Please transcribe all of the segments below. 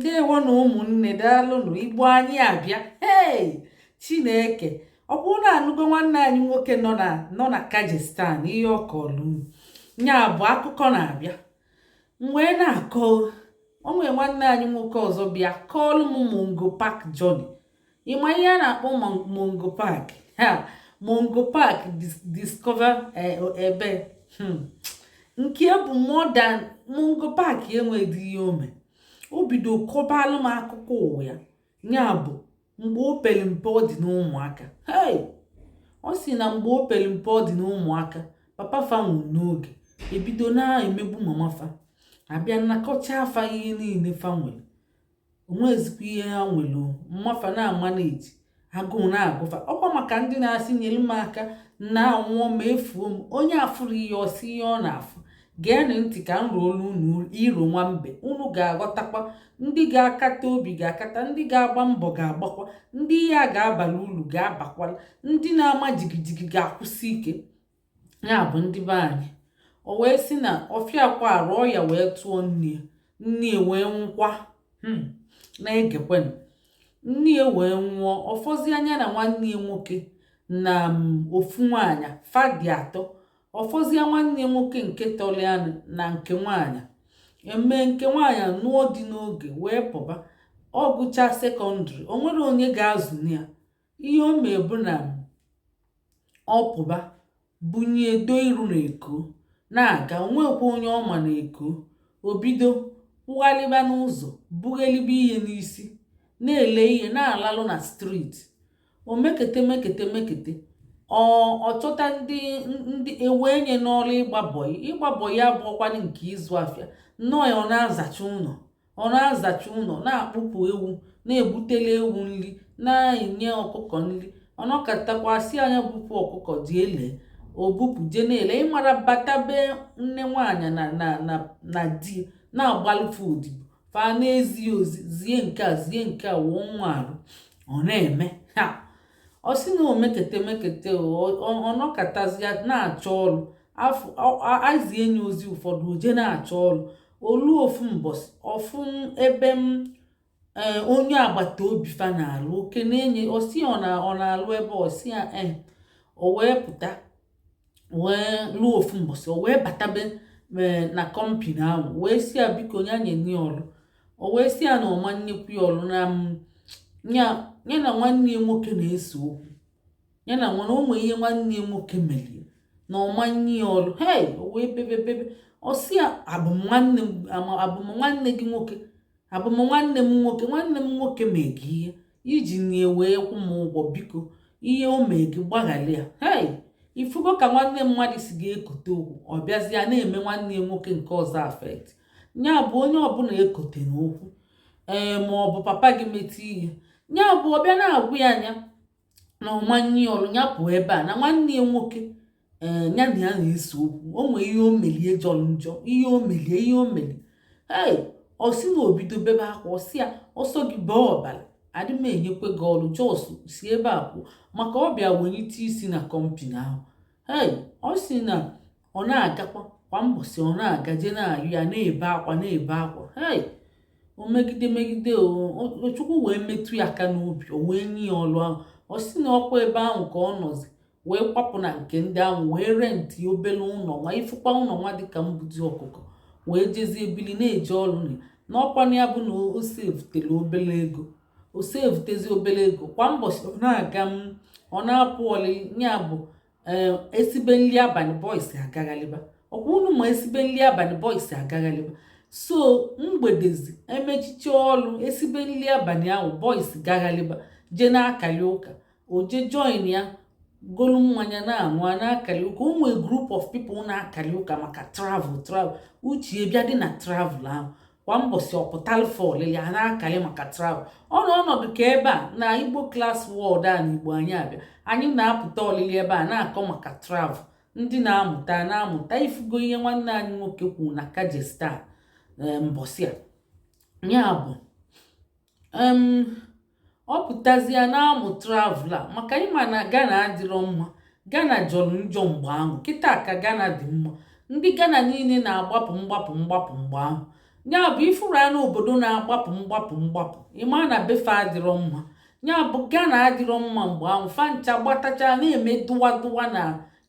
ndewo nụ ụmụnne daalụnụ igbo anyị abịa ee chineke ọ bụrụ na anụgo nwanne anyị nwoke nọ na nọ na kajistan ihe ọ kọọlụ m nya bụ akụkọ na-abịa wee na-akọ o nwere nwanne anyị nwoke ọzọ bịa kọọlụ m mungo park journey ị ma ihe a na-akpọ mungo park ha mungo park discover eh, ebe hmm. nke bụ modern mungo park enweghị ihe o me o bido kọbalụ m akụkọ ụwa ya ya bụ mgbe o pere mpe ọ dị n'ụmụaka hey ọ si na mgbe o pere mpe ọ dị n'ụmụaka papa fa nwụrụ n'oge e bido na-emegbu mama fa a bịa nakọcha fa ihe niile fa nwere o nwezikwa ihe ha nwere mama fa na-ama na-eji agụụ na-agụ fa ọ kwa maka ndị na-asị nyere m aka na anwụọ m efuo m onye afụrọ ihe ọ sị ihe ọ na-afụ geenụ ntị ka m roolu unu iro nwa mbe unu ga-aghọtakwa ndị ga-akata obi ga-akata ndị ga-agba mbọ ga-agbakwa ndị ihe a ga-abara ulu ga-abakwala ndị na-ama jigijigi ga-akwụsị ike ya bụ ndị be anyị o wee sị na ọ fịakwarọ ọya wee tụọ nne ya nne ya wee nwụkwa hmm, na-egekwenụ nne ya wee nwụọ ọ fọzia nya na nwanne ya nwoke na mm, ofu nwaanyị fa dị atọ ọ fọzia nwanne ya nwoke nke tọlụ ya na nke nwaanyị e mee nke nwaanyị nụọ di n'oge wee pụba ọ gụchaa sekọndịrị o nwerọ onye ga-azụ ya ihe o mee bụ na ọ pụba bunye do iru na eko na-aga o nwekwa onye ọ ma na eko o bido kwụghalịba n'ụzọ bughelibe ihe n'isi na-ele ihe na-alarụ na street o mekete mekete mekete ọ ọ chọta ndị ndị ewee nya n'ọrụ ịgba bọyị ịgba bọyị abụrọkwanụ nke ịzụ afịa nnọọ ya ọ na-azacha ụnọ ọ na-azacha ụnọ na-akpụpụ ewu na-ebutele ewu nli na-enye ọkụkọ nli ọ nọkatakwa a sị nya bupụ ọkụkọ jee lee o bupụ je na-ele ị mara bata be nne nwaanyị na na na na di na-agbalụ fa odibo fa na-ezi ozi zie nke a zie nke a wụọ nwa arụ ọ na-eme ha ọ sị na o mekete mekete ọ nọkatazia na-achọ ọrụ e zie nya ozi ụfọdụ o je na-achọ ọrụ o luo ofu mbọsị ọ fụ ebe em eh, onye agbata obi fa na-alụ oke na-enye osi ọ na-alụ ebe osi ya e eh, o wee pụta wee luo ofu mbọsị o wee batabe eh, na kọmpini ahụ wee sị ya biko nya nye nya ọlụ o wee sị ya na ọ ma nyekwu ya ọlụ na ya na nwanne ya nwoke na-ese okwu ya na nwa ahụ o nwee ihe nwanne ya nwoke melie na ọ ma nye ya ọrụ hei o wee bebe bebe ọ sị ya abụm nwanne gị nwoke abụm nwanne m nwoke nwanne m nwoke mee gị ihe i ji nya wee kwụ m ụgwọ biko ihe o mee gị gbaghara ya hei ifugo ka nwanne mmadụ si ga-ekote okwu ọ bịazịa na-eme nwanne ya nwoke nke ọzọ affect ya bụ onye ọbụla ekotena okwu ee ma ọ bụ papa gị mete ihe ya bụ ọ bịa na-agwa ya nya na ọ ma nye ya ọrụ ya pụọ ebe a na nwanne ya nwoke ee ya na ya na-ese okwu o nwee ihe o melie jọrọ njọ ihe o melie ihe o melie ee ọ sị na o bido bebe akwa ọ sị ya ọ sọ gị bee ọbara adị m enyekwe gị ọrụ just si ebe a pụọ maka ọ bịa welite isi na company ahụ ee ọ sị na ọ na-agakwa kwa mbọsị ọ na-aga je na-ayọ ya na-ebe akwa na-ebe akwa hei o megide megide o chukwu wee metụ ya aka n'obi o wee nye ya ọlụ ahụ ọ sị na ọkwa ebe ahụ ka ọ nọzi wee kwapụ na nke ndị ahụ wee rent obere ụlọ nwa ifụkwa ụlọ nwa dịka mbuzi ọkụkọ wee jezie bili na-eje ọrụ na n'ọkwana ya bụ na o sevutela obere ego o sevutezi obere ego kwa mbọsị ọ na-aga ọ na-apụ ọlị ya bụ ee eh, esibe nri abalị boys agaghalịba ọkwa unu ma esibe nri abalị boys agaghalịba so mgbedezi emechiche ọrụ esibe nri abalị ahụ boys gaghalịba jee na-akalị ụka o je join ya golu mmanya na-aṅụ a na-akalị ụka o nwee group of people na-akalị ụka maka travel travel uche bịa dị na travel ahụ kwa mbọsị ọ pụtalụ fa olili a na-akalị maka travel ọ nọ ọnọdụ ka ebe a na Igbo class world a na Igbo anyị abịa anyị na-apụta olili ebe a a na-akọ maka travel ndị na-amụta ana-amụta ifugo ihe nwanne anyị nwoke kwuru na Kyrgyzstan eh, mbọsị a ya bụ um ọ pụtazịa na-amụ travel a maka ị ma na Ghana adịrọ mma Ghana jọrọ njọ mgbe ahụ kịta ka Ghana dị mma ndị Ghana niile na-agbapụ mgbapụ mgbapụ mgbe ahụ nya bụ ifuru anụ obodo na-agbapụ mgbapụ mgbapụ ị ma na be fa adịrọ mma nya bụ Ghana adịrọ mma mgbe ahụ fa ncha gbatacha na-eme dụwa dụwa na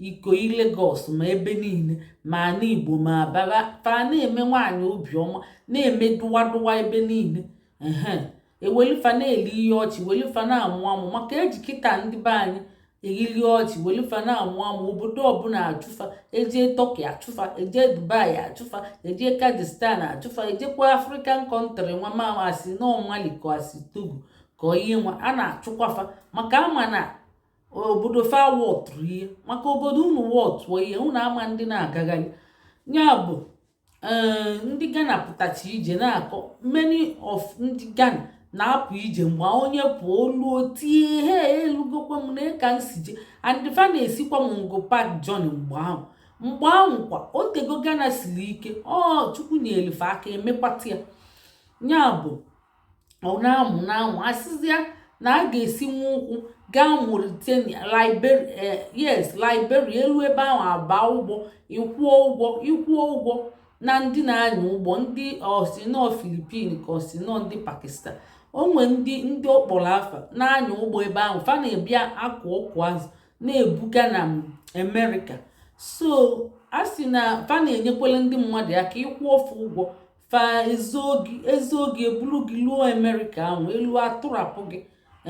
Ikoyi Lagos ma ebe niile ma ana Igbo ma Aba fa na-eme nwaanyị obiọma na-eme dụwa dụwa ebe niile ehe ewelifa na-eli ihe ọchị welifa na-amụ amụ maka eji kịta ndị be anyị eli ihe ọchị welifa na-amụ amụ obodo ọbụla achụfa eje Turkey achụfa eje Dubai achụfa eje Kyrgyzstan achụfa ejekwa African country nwa ma asị na ọ Mali ka asị Togo ka ihe nwa a na-achụkwafa maka ama na obodo fa wọtụrụ ihe maka obodo unu wọtụọ ihe unu ama ndị na-agagharị ya bụ eh, ndị Ghana pụtacha ije na-akọ many of ndị Ghana na-apụ ije mgbe onye pụọ o luo tie ihe elugokwa m nee ka m si je and ndị fa na-esikwa Mungo Park journey mgbe ahụ mgbe ahụ kwa o tego Ghana siri ike ọ Chukwu nyelụ fa aka emekwata ya ya bụ ọ na-amụ na-amụ a sịzịa na a ga-esi nwa ụkwụ gaa Mauritania Liberia eh, yes Liberia e luo ebe ahụ a baa ụgbọ ị kwụọ ụgwọ ị kwụọ ụgwọ na ndị na-anya ụgbọ ndị ọ sị nọ Filipin ka ọ sị nọ ndị Pakistan o nwe ndị ndị ọ kpọrọ afa na-anya ụgbọ ebe ahụ fa na-abịa akụ ọkụ azụ na-ebuga na Amerịka so a sị na fa na-enyekwele ndị mmadụ aka ị kwụọ fa ụgwọ fa ezoo gị eburu gị luo Amerịka ahụ e luo atụrapụ gị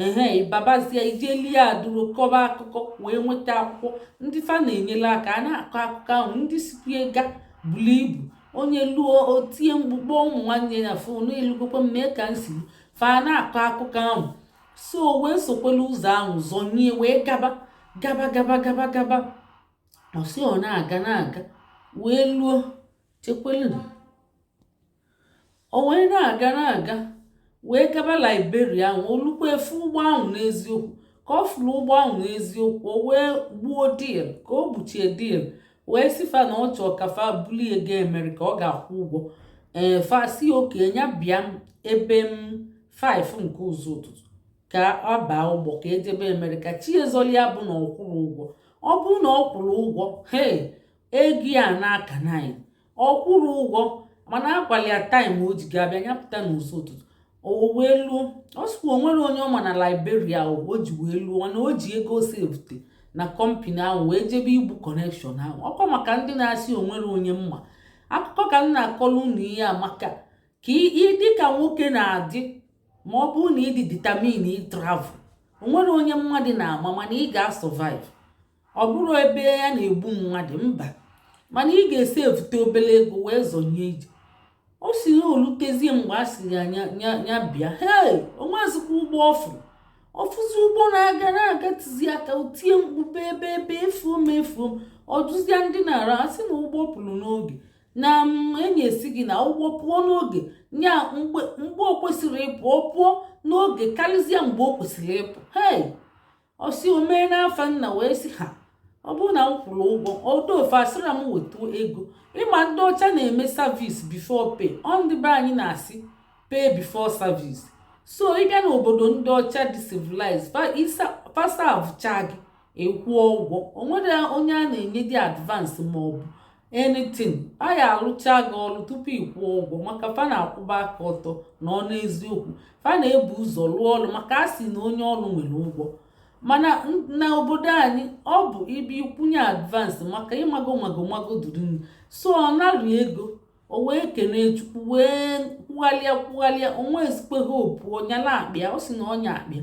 ehe ị babazie ị je lie aduro kọba akụkọ wee nweta akwụkwọ ndị fa na-enyere aka a na-akọ akụkọ ahụ ndị sikwa ga buru ibu onye luo otie mkpu kpọọ ụmụ nwanne ya fon elugokwa m nee ka m si fa na-akọ akụkọ ahụ so wee sokwela ụzọ ahụ zọnye wee gaba gaba gaba gaba gaba ọ sị ọ na-aga na-aga wee luo chekwelunu o wee na-aga na-aga wee gaba Liberia ahụ o lukwaa fụ ụgbọ ahụ n'eziokwu ka ọ fụrụ ụgbọ ahụ n'eziokwu o wee gbuo dil ka o gbuchie dil wee sị fa na ọ chọọ ka fa bulie ga Amerịka ọ ga-akwụ ụgwọ ee fa sị okay ya bịa ebe em 5 nke ụzọ ụtụtụ ka ọ baa ụgbọ ka e jebe Amerịka chi ezoli ya bụ na ọ kwụrụ ụgwọ ọ bụrụ na ọ kwụrụ ụgwọ hee ego ya n'aka naanị ọ kwụrụ ụgwọ mana a gwalụ ya taịm o ji ga-abịa ya pụta n'ụzọ ụtụtụ o wee luo ọ sịkwa o nwerọ onye ọ ma na Liberia o ji wee luo na o ji ego sevute na kọmpani ahụ wee jebe igbu kọnekshọn ahụ ọ kwa maka ndị na-asị o nwerọ onye m ma akụkọ ka m na-akọrọ unu ihe a maka ka ị dị ka nwoke na-adị ma ọ bụrụ na ị dị ditamin ịtravel o nwerọ onye mmadụ na-ama mana ị ga-asọvive ọ bụrọ ebe ya na-egbu mmadụ mba mana ị ga-esevute obere ego wee zọnye ije ọ sị na o lutezie mgbe a sị ya ya bịa hei o nwezikwa ụgbọ ọ fụ ọ fụzi ụgbọ na-aga na-aga tizi aka tie mkpu bebe ebe efuo m efuo m ọ dụzie ndị na-ara asị na ụgbọ pụrụ n'oge na onye sị gị na ụgbọ pụọ n'oge nya mgbe o kwesịrị ịpụ ọ pụọ n'oge karịzie mgbe o kwesịrị ịpụ hei ọ sị o mee n'afa nna wee sị ha ọ bụrụ na m kwụrụ ụgwọ ọdụ ofe asịra m wetu ego ị ma ndị ọcha na-eme service before pay ọ ndị be anyị na-asị pay before service so ị bịa n'obodo ndị ọcha dị civilized fa servecha gị ị kwụọ ụgwọ o nwere onye a na-enyedị advance ma ọ bụ anything a ya alụcha gị ọrụ tupu ị kwụọ ụgwọ maka fa na-akwụba aka ọtọ na-anọ n'eziokwu fa na-ebu ụzọ lụọ ọrụ maka a sị na onye ọrụ nwere ụgwọ mana na obodo anyị ọ bụ ibi kwụnye advance maka ị mago mago mago durini so ọ narụ ego o wee kenee chukwu wee kwughalịa kwughalịa o nwezikwe hope ọ nyala akpa ya ọ sị na ọ nya akpa ya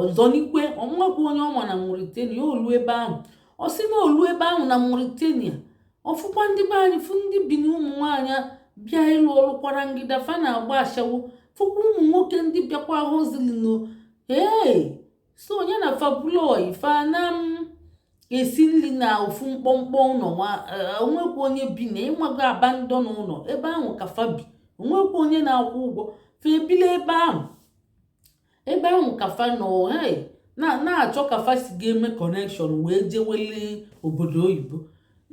ọzọ n'ikwe o nwekwa onye ọ ma na Mauritania o luo ebe ahụ ọ sị na o luo ebe ahụ na Mauritania ọ fụkwa ndị be anyị fụ ndị Bini ụmụ nwaanyị bịa ịlụ ọrụ kwarangịda fa na-agba ashawo fụkwa ụmụ nwoke ndị bịakwa hustling ee so nya na fa bụlụ ọyị fa na-esi nri na ofu mkpọmkpọ ụlọ e, o nwekwa onye bi na ị mago abandon ụlọ ebe ahụ ka fa bi o nwekwa onye na-akwụ ụgwọ fa ebili ebe ahụ ebe ahụ ka fa nọ na-achọ ka fa si ga-eme connection wee jewele obodo oyibo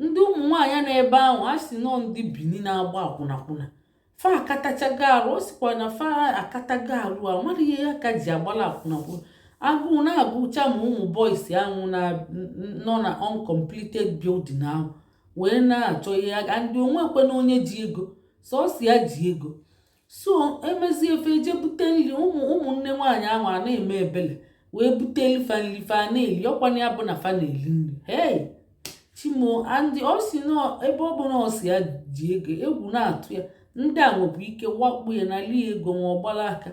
ndị ụmụ nwaanyị nọ ebe ahụ a sị na ọ ndị Bini na-agba akwụnakwụna fa akatachago arụ ọ sịkwa na fa akatago arụ a mara ihe ya ka ji agbala akwụnakwụna agụụ na-agụcha ma ụmụ boys ahụ nọ na uncompleted building ahụ wee na-achọ ihe aga and o nwekwe na onye ji ego sọsọ ya ji ego so e mezie fa eje bute nri ụmụ ụmụnne nwaanyị ahụ a na-eme ebele wee bute fa nri fa na-eli ọkwana ya bụ na fa na-eli nri hey chi m o and ọ sị na ebe ọ bụ na ọ sọ ya ji ego egwu na-atụ ya ndị a nwebụ ike wakpo ya nalị ego nwa ọ gbara aka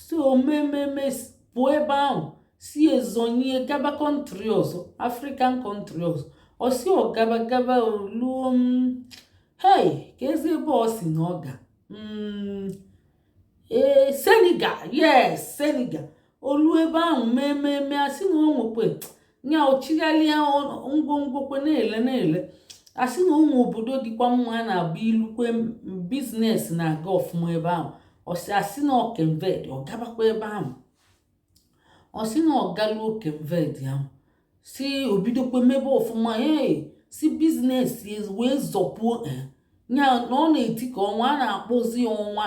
so o mee mee mee pụọ ebe ahụ sie zọnye gaba country ọzọ African country ọzọ ọ sị ọ gaba gaba luo hey keezi ebe ọ sị na ọ ga mm, ee Senegal yes Senegal o luo ebe ahụ mee mee mee a sị na o nwekwe ya ọ chịgharịa ngwongwo kwe na-ele na-ele a sị na o nwe obodo dịkwa mma a na-abụ i lukwe business na-aga ọfụma ebe ahụ ọ sị a sị na ọ Cape Verde ọ gabakwa ebe ahụ ọ sị na ọ galuo Cape Verde ahụ sị o bidokwe mebe ọfụma ee sị business wee zọpuo ya na ọ na-eti ka ọnwa a na-akpọzi ya ọnwa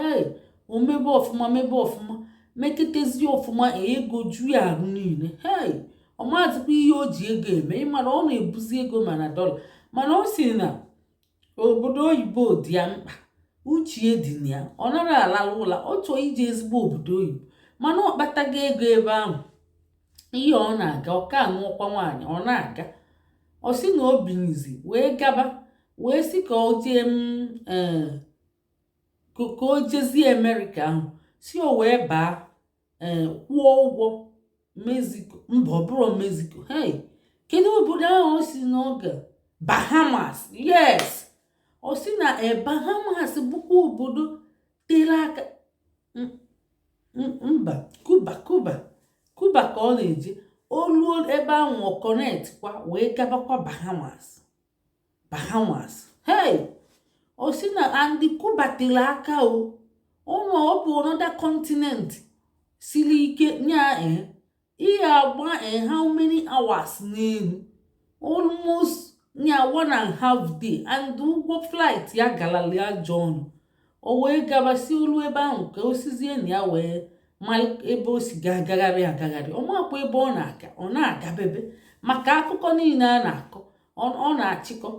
ee o mebe ọfụma mebe ọfụma meketezi ọfụma ego ju ya arụ niile hei ọ mazikwa ihe o ji ego eme ị ma na ọ na-ebuzi ego ma na dollar mana ọ sị na obodo oyibo dị ya mkpa uche dị na ya ọ nara alala ụla ọ chọọ ije ezigbo obodo oyibo mana ọ kpatago ego ebe ahụ ihe ọ na-aga ọ ka anụọkwa nwaanyị ọ na-aga ọ sị na o binizi wee gaba wee sị ka o jee eh, ka o jezie amerịka ahụ si o wee baa ee eh, kwụọ ụgwọ mexico mba ọ bụrọ mexico hey kedu obodo ahụ ọ sị na ọ ga bahamas yes ọ sị na e bahamas bụkwa obodo tere aka mba Cuba Cuba Cuba ka ọ na-eje o luo ebe ahụ ọ connect kwa wee gabakwa bahamas Bahamas hey ọ sị na and Cuba tere aka o ụnụ ọ bụ another continent siri ike nya e eh, ị ga-agba e eh, how many hours n'elu almost nya one and half day and ụgwọ flight ya galali ajọ ọnụ o wee gabazi o lu ebe ahụ ka o sizie na ya wee ma ebe o si ga-agagharị agagharị ọ makwa ebe ọ na-aga ọ na-agabebe maka akụkọ niile a na-akọ ọ na-achịkọ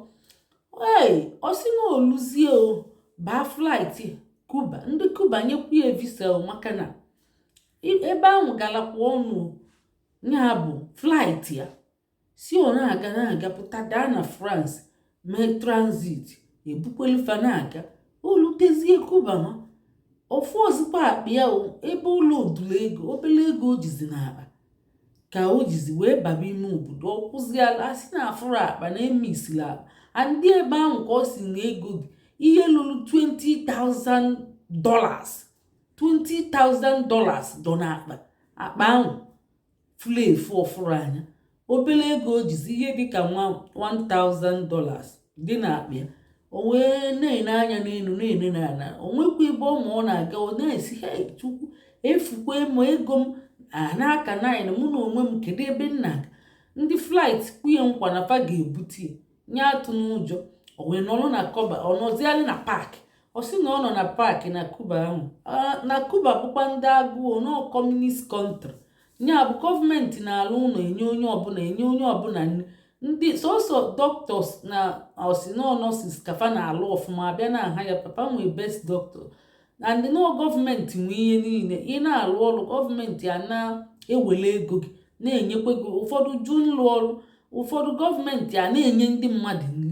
ee ọ sị na o luzie ọ baa flight Cuba ndị Cuba nyekwu ya visa maka na ebe ahụ galakwa ọnụ nya bụ flight ya sị ọ na-aga na-aga pụta daa na France mee transit ebukwelu fa na-aga o lutezie Cuba ma ọ fụrọzikwa akpa ya ebe ụlọ odula ego obele ego o jizi n'akpa ka o jizi wee baba ime obodo ọ kwụziala a sị na afụrọ akpa na emisila akpa and ebe ahụ ka ọ sị na ego dị ihe lulu 20,000 dollars 20,000 dollars dọ n'akpa akpa ahụ fulu efu ọ fọrọ nya obele ego o jizi ihe dịka nwa 1000 dollars dị n'akpa ya o wee na-ene anya n'enu na-ene n'ana o nwekwa ebe ọ ma ọ na-aga ọ na-asị hei chukwu efukwa m ego m n'aka nine mụ na onwe m kedu ebe m na-aga ndị flight kwee nkwa na fa ga-ebute nya atụna ụjọ o wee nọrọ na Cuba ọ nọzialị na park ọ sị na ọ nọ na park na Cuba ahụ na Cuba bụkwa ndị agụụ nọ communist country nya bụ gọọmenti na-alụ ụnọ enye onye ọbụla enye onye ọbụla ndị sọsọ doctors na ọ sị na nurses ka fa na-alụ ọfụma a bịa na aha ya ka fa nwee best doctor and nurse gọọmenti nwe ihe niine ị na-alụ ọrụ gọọmenti a na-ewele ego gị na-enyekwa gị ụfọdụ ji alụ ọrụ ụfọdụ gọọmenti a na-enye ndị mmadụ nri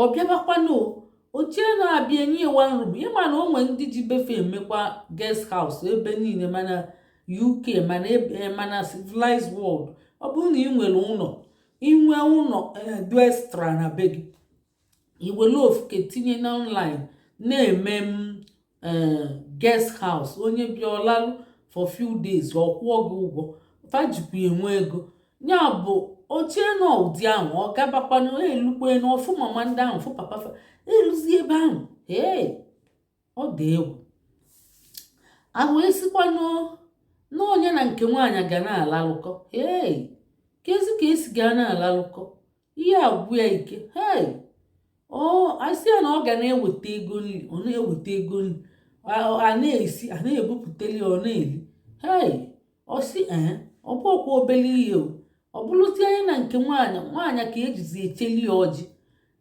ọ bịabakwanụ o chee na abịa enye ya one room ị ma na o nwe ndị ji be fa emekwa guest house ebe niile ma na uk ma na eh, ma na civilized world ọ bụrụ na i nwere ụlọ i nwe ụlọ eh, dị extra na be gị i were ofu nke tinye na online na-eme m eh, guest house onye bịa ọ lalụ for few days ọ kwụọ gị ụgwọ fa jikwa enwe ego ya bụ o chee na ọ ụdị ahụ ọ gabakwanụ elukwenụ ọ fụ mama ndị ahụ fụ papa fa eluzi ebe ahụ ee ọ dị egwu aha a sịkwanụ na ọ nya na nke nwaanyị ga na-alalụkọ ee kezi ka e si ga na-alalụkọ ihe agwụ ya ike hei a sị ya na ọ ga na-eweta ego nri ọ na-eweta ego nri a na-esi a na-ebupụtali ọ na-eli hei ọ sị ee ọ bụkwa obere ihe o ọ bụrụzia nya na nke nwaanyị nwaanyị ka e jizi echeli ya ọjị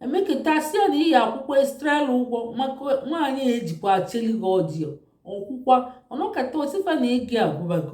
emeketa a sị ya na ị ya-akwụkwa extra ụgwọ maka nwaanyị e jikwa echeli gị ọjị ọ kwụkwa ọ nọkata ọ sị fa na ego agwụbago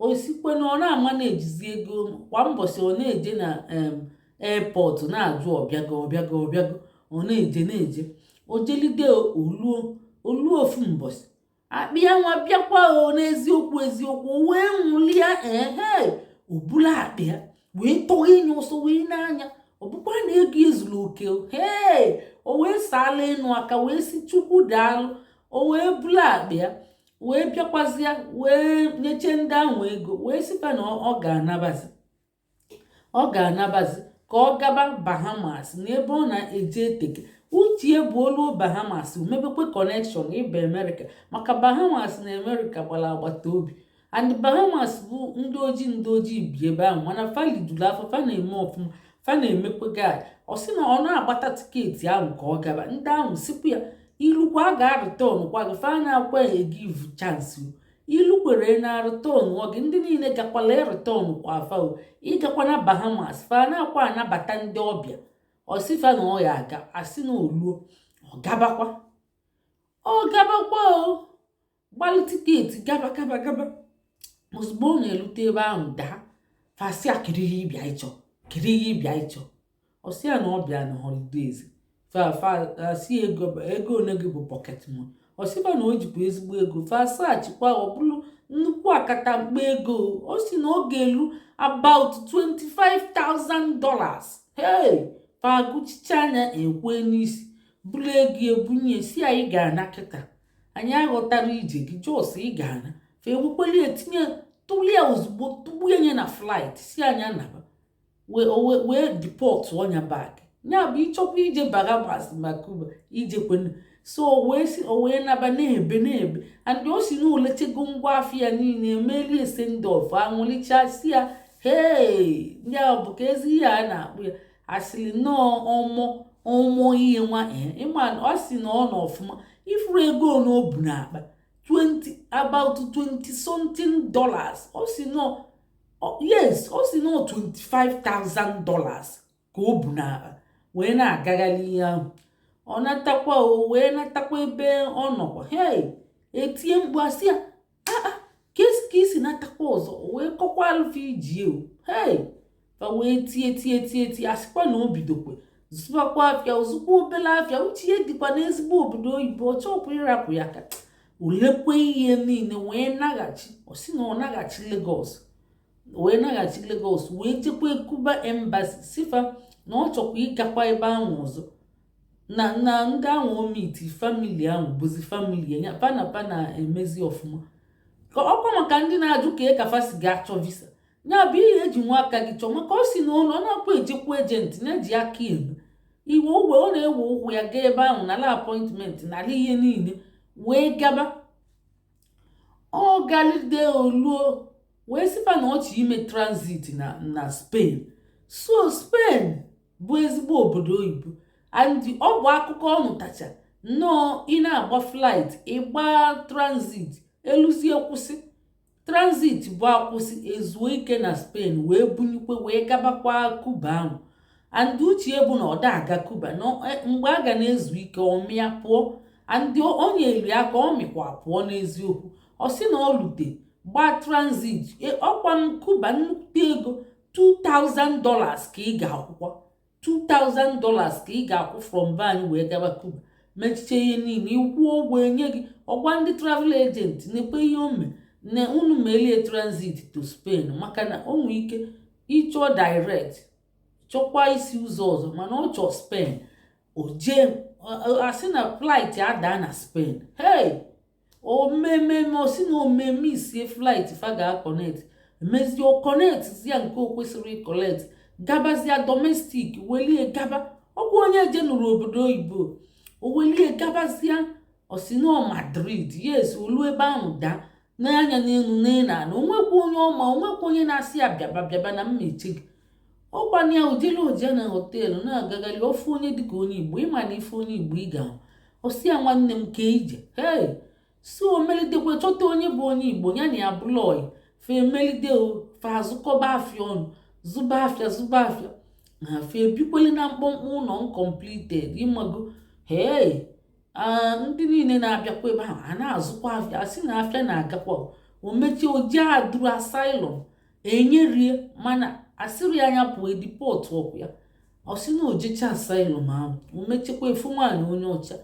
ọ sịkwa ya na ọ na-ama na-ejizi ego kwa mbọsị ọ na-eje na airport na-ajụ ọ bịago ọ bịago ọ bịago ọ na-eje na-eje o jelide o luo o luo ofu mbọsị akpa ya nwa bịakwa o n'eziokwu eziokwu o wee nwụlịa ehe o bulu akpa ya wee tọwaa nya ọsọ wee nee anya ọ bụkwa na ego ya zuru oke hee o wee saalụ enu aka wee sị chukwu daalụ o wee bulu akpa ya wee bịakwazịa wee nyecha ndị ahụ ego wee sịkwa na ọ ga-anabazi ọ ga-anabazi ka ọ gaba bahamas n'ebe ọ na-eje eteka uche ya bụ o luo bahamas o mebekwa connection ịba amerịka maka bahamas na amerịka gbara agbata obi and bahamas bụ ndị ojii ndị ojii bi ebe ahụ mana fa lijulu afọ fa na-eme ọfụma fa na-emekwa guy ọ sị na ọ na-agbata tiketi ahụ ka ọ gaba ndị ahụ sịkwa ya i lukwa a ga-areturn kwa gị fa anaakwa e give chance i lukwee a na-areturn gị ndị niile gakwalụ e return kwa fa ị gakwana bahamas fa anaakwa anabata ndị ọbịa ọ sị fa na ọ ya-aga a sị na o luo ọ gabakwa ọ gabakwa o gbalụ tiketi gaba gaba gaba ozugbo ọ na-erute ebe ahụ daa fa sị ya kedu ihe ị bịa ịchọ kedu ihe ị bịa ịchọ ọ sị ya na ọ bịa na holidays fa fa sị ego ego one gị bụ pocket money ọ sị fa na o jikwa ezigbo ego fa search kwa ọ bụrụ nnukwu akatamkpo ego ọ sị na ọ ga-elu about 25,000 dollars hey fa gụchichaa nya e kwe n'isi buru ego ya bunye ya sị ya ị ga-ana kịta anyị aghọtarọ ije gị just ị ga-ana fa ewekwelie tinye tụlie ozugbo tụbanye na flight sị nya naba wee deportuo nya back ya bụ ịchọkwa ije Bahamas ma Cuba ijekwena so o wee naba na-ebe na-ebe and ọ sị na o lechego ngwa afịa niile emelie send-off anwụlicha sị ya hee nya bụ ka ezi ihe a na-akpụ ya asịrị nnọọ ọmụ ọmụ ihe nwa eh, ịma ọ sị na ọ nọ ọfụma ị fụrụ ego na o bu n'akpa 20 about 20 something dollars ọ sị nọ yes ọ sị nọ 25,000 dollars ka o bu n'akpa wee na-agagharị ihe ahụ ọ natakwa o wee natakwa ebe ọ nọkwa hei etie mkpu asị ya ka i si natakwa ọzọ wee kọkwaalụ fa ije o hei fa wee tie tie tie tie asịkwa na o bidokwe zụbakwa afịa ozugbo obele afịa uche ya dịkwa n'ezigbo obodo oyibo ọ chọbu ịrapụ ya ka o lekwe ihe niile wee naghachi ọ sị na ọ naghachi Lagos wee naghachi Lagos wee jekwa Cuba embassy sị fa na ọ chọkwa ịgakwa ebe ahụ ọzọ na na ndị ahụ o meeti family ahụ bụzi family ya fa na fa na-emezi ọfụma ọkwa maka ndị na-ajụ ka e ka fa si ga-achọ visa ya bụ ihe eji nwa aka gị chọọ maka ọ si na ụlọ ọ na-akwa ejekwa agent na-eji aka eme iwe uwe ọ na-ewe ụkwụ ya gaa ebe ahụ nala appointment nala ihe niile wee gaba ọ galide o luo wee sị fa na ọ chọ ime transit na na Spain so Spain bụ ezigbo obodo oyibo and ọ bụ akụkọ ọ nụtacha nnọọ ị na-agba flight ị gbaa transit e luzie kwụsị transit bụ akwụsị ezuo ike na Spain wee bunyekwe wee gabakwa Cuba ahụ and uche ya bụ na ọ da-aga Cuba e, mgbe a ga na-ezu ike ọ mịa pụọ and o nyeli aka ọ mịkwa pụọ n'eziokwu ọ sị na ọ lute gbaa transit e, ọkwa na Cuba nnukwu ego 2000 dollars ka ị ga-akwụkwa 2000 dollars ka ị ga-akwụ from be anyị wee gaba Cuba mechiche ihe niile ịkwụọ ụgwọ enye gị ọ gwa ndị travel agent neekwe ihe o me na unu melie transit to Spain maka na o nwee ike ịchọ direct chọkwa isi ụzọ ọzọ mana ọ chọọ Spain o jee asị na flight adaa na Spain hey o mememe ọ sị na o meme isie flight fa ga-connect emezie o connectzia nke o kwesịrị ịconnect gabazia domestic welie gaba ọkwa onye jenuru obodo oyibo o welie gabazia ọ sị nọ Madrid yes o lu ebe ahụ daa nee anya n'enu nee n'ana o nwekwa onye ọ ma o nwekwa onye na-asị ya bịaba bịaba na m eche gị ọkwa na o jelu o jee na hotel na-agagharị ọ fụ onye dịka onye Igbo ịma na ị fụ onye Igbo ị ga-ahụ ọ sị ya nwanne m kee ije hei sị o melidekwe chọta onye bụ onye Igbo ya na ya bụlụ ọyị fa emelide o fa azụkọba afịa ọnụ zụba afịa zụba afịa na fa ebikwele na mkpọmkpọ ụlọ uncompleted ịmago hei ndị niile na-abịakwa ebe ahụ a na-azụkwa afịa a sị na afịa na-agakwa o mechie o jee aduru asylum enyerie mana a sịrị nya pụọ e deport ọkụ ya ọ sị na o jecha asylum ahụ o mechakwaa fụ nwaanyị onye ọcha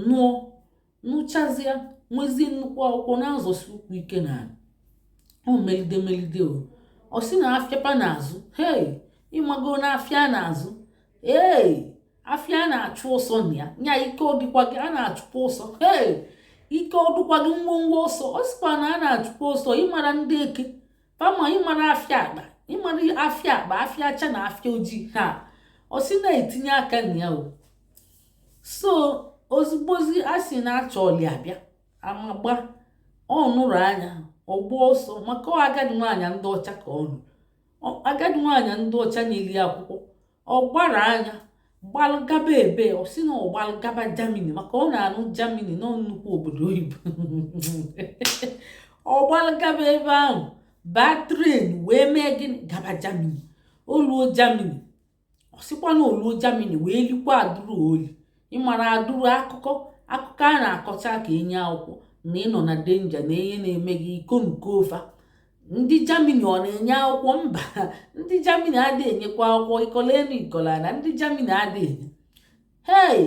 nụọ nụchazịa nwezie nnukwu akwụkwọ na-azọsi ụkwụ ike n'ana o melide melide o ọ sị na afịa fa na-azụ hei ịmago na afịa a na-azụ ee afịa na-achụ ọsọ na ya nya ike ọ dịkwa gị a na-achụkwa ọsọ hei ike ọ dịkwa gị ngwongwo ọsọ ọ sịkwa na a na-achụkwa ọsọ ịmara ndị eke fa ma ịmara afịa akpa ịmara afịa akpa afịa ọcha na afịa ojii ha ọ sị na-etinye aka na ya o so ozugbozi a sị na-achọ ọlị abịa amagba ọ nụrụ nya ọ gbaa ọsọ maka agadi nwaanyị ndị ọcha ka ọ nụọ agadi nwaanyị ndị ọcha nyeli ya akwụkwọ ọ gbara nya gbalụ gaba ebe ọ sị na ọ gbalụ gaba Germany maka ọ na-anụ Germany na ọ nnukwu obodo oyibo ọ gbalụ gaba ebe ahụ baa train wee mee gịnị gaba Germany o luo Germany ọ sịkwa na o luo Germany wee likwa adụrụ oli ịmara adụrụ akụkọ akụkọ a na-akọcha ka e nye akwụkwọ na ị nọ na danger na ihe na-eme gị iko nukofa ndị Germany ọ na-enye akwụkwọ mba ndị Germany adịghị enyekwa akwụkwọ ị kọla enu ị kọla ana ndị Germany adịghị enye hei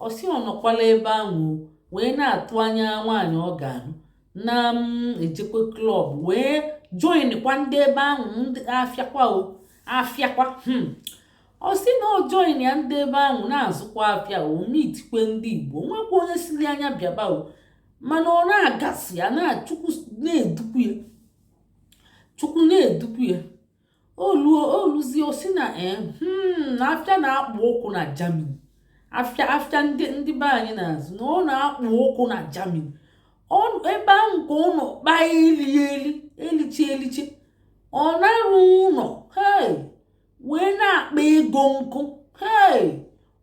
ọ sị ọ nọkwala ebe ahụ wee na-atụ anya nwaanyị ọ ga-anụ na mm, ejekwa club wee joinkwa ndị ebe ahụ ndị afịakwa o afịakwa hmm. ọ sị na o join ya ndị ebe ahụ na-azụkwa afịa o meetikwe ndị Igbo nwekwa onye sịrị nya bịaba o mana ọ na-aga sị ya na Chukwu na-edukwu ya Chukwu na-edukwu ya o luzie ọ sị na eh, hmm, na afịa na-akpụ ọkụ na Germany afịa afịa ndị be anyị na-azụ na ọ na-akpụ ọkụ na Germany ebe ahụ ka ọ nọ kpaa eli eli eliche eliche ọ na-arụ ụlọ hei wee na-akpa ego nkụ hei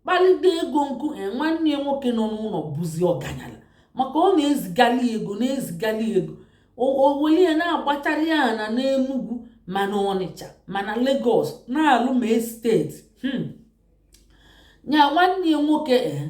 kpalide ego nkụ e nwanne ya nwoke nọ n'ụlọ bụzi ọganyala maka ọ na-ezigali ego na-ezigali ego o weli ya na-agbachara ya ana n'Enugwu ma na Ọnịcha ma na Lagos na-alụ ma estate hmm. ya nwanne ya nwoke ee eh,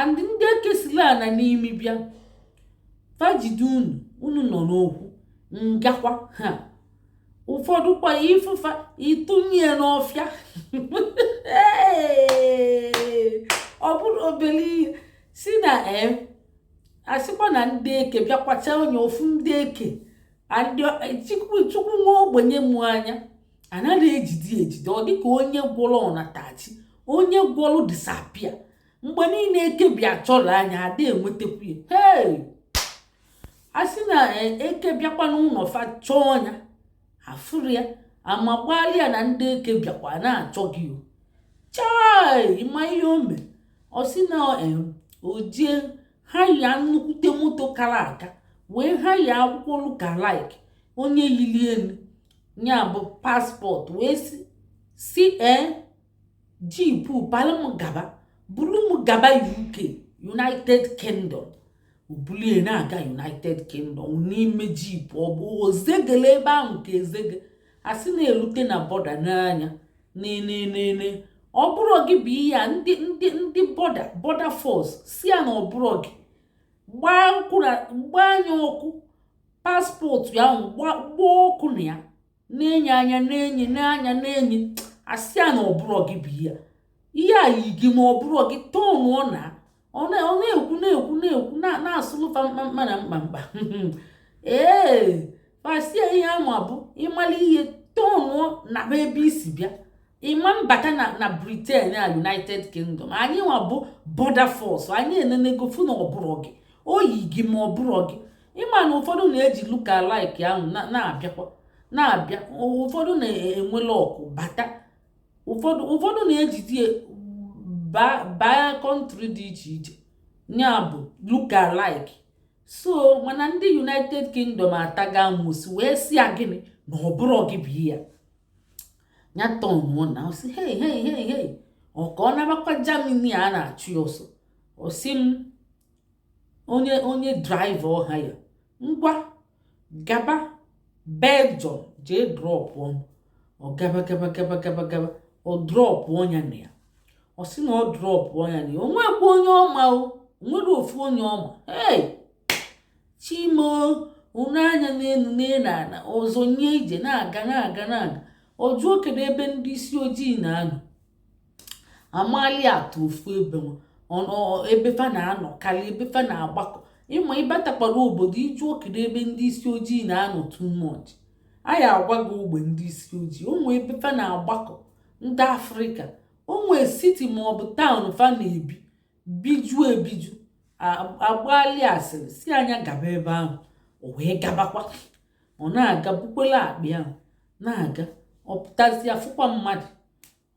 and ndị eke sila ana n'imi bịa fa jide unu unu nọ n'okwu ngakwa ha ụfọdụkwa ị fụ fa ị tụnye n'ọfịa ọ bụrụ obere ihe si na em a sịkwa na ndị eke bịakwacha onye ofu ndị eke chukwu nwa ogbenye mụ anya anaghị ejide ejide ọ dịka onye gwọrọ ọnatachi onye gwọrọ disappear mgbe niile eke bịa chọrọ nya ada enwetakwu ya hei a sị na e, eke bịakwa n'ụlọ fa chọọ nya afụrọ ya amakwali ya na ndị eke bịakwa na-achọ gị o chai ị ma ihe o mee ọ sị na e, o jee hire nnukwute moto kara aka wee hire akwụkwọ lookalike onye yili ya nya bụ passport wee sị ee jeep palụ m gaba buru m gaba uk united kingdom o bulie na-aga united kingdom n'ime jeep ọ bụ ozegele ebe ahụ ka ezege a sị na elute na border n'anya nenenene ọ bụrọ gị bụ ihe a ndị ndị ndị border border force sị ya na ọ bụrọ gị gbaa nya ọkụ passport ya ahụ gbaa ọkụ na ya na-ene ya anya na-ene nya anya na-ene a sị ya na ọ bụrọ gị bụ ihe ihe a yi gị ma ọ bụrọ gị tọnụọ naa ọ na-ekwu na-ekwu na-ekwu na-asụlụ fa mkpamkpa na mkpamkpa ee fa sị ya ihe anwa bụ ị mala ihe tọnụọ naa ebe i si bịa ị ma-abata na na britain a united kingdom anyị nwa bụ border force anyị enenego fụ na ọ bụrọ gị o yi gị ma ọ bụrọ gị ị ma na ụfọdụ na-eji lookalike ahụ na-abịakwa na-abịa ụfọdụ na-enwe luck bata ụfọdụ ụfọdụ na-ejizi baa country dị iche iche ya bụ lookalike so mana ndị united kingdom atago amosu wee sị ya gịnị na ọ bụrọ gị bụ ihe a ya tọnụọ naa ọ sị hei hei hei hei ọ ka ọ nabakwa germany a na-achụ ya ọsọ ọ sị m onye onye driver ọ hire ngwa gaba belgium jee drọpụọ m ọ gaba gaba gaba gaba gaba ọ drọpụọ nya na ya ọ sị na ọ drọpụọ nya na ya o nwekwa onye ọ ma o nwere ofu onye ọ ma hey chi m o o nee anya n'elu nee n'ala ọ zọnye ije na-aga na-aga na-aga ọ jụọ kedu ebe ndị isi ojii na-anọ amali atụ ofu ebe ebe fa na-anọ karịa ebe fa na-agbakọ ị ma ị batakwara obodo ị jụọ kedu ebe ndị isi ojii na-anọ too much anyị agwa gị ogbe ndị isi ojii o nwe ebe fa na-agbakọ ndị afrịka o nwe siti maọbụ taụn fa na-ebi biju ebiju a gbaali asịrị sị a nya gaba ebe ahụ o wee gabakwa ọ na-aga bukwolu akpa ahụ na-aga ọ pụtazịa fụkwa mmadụ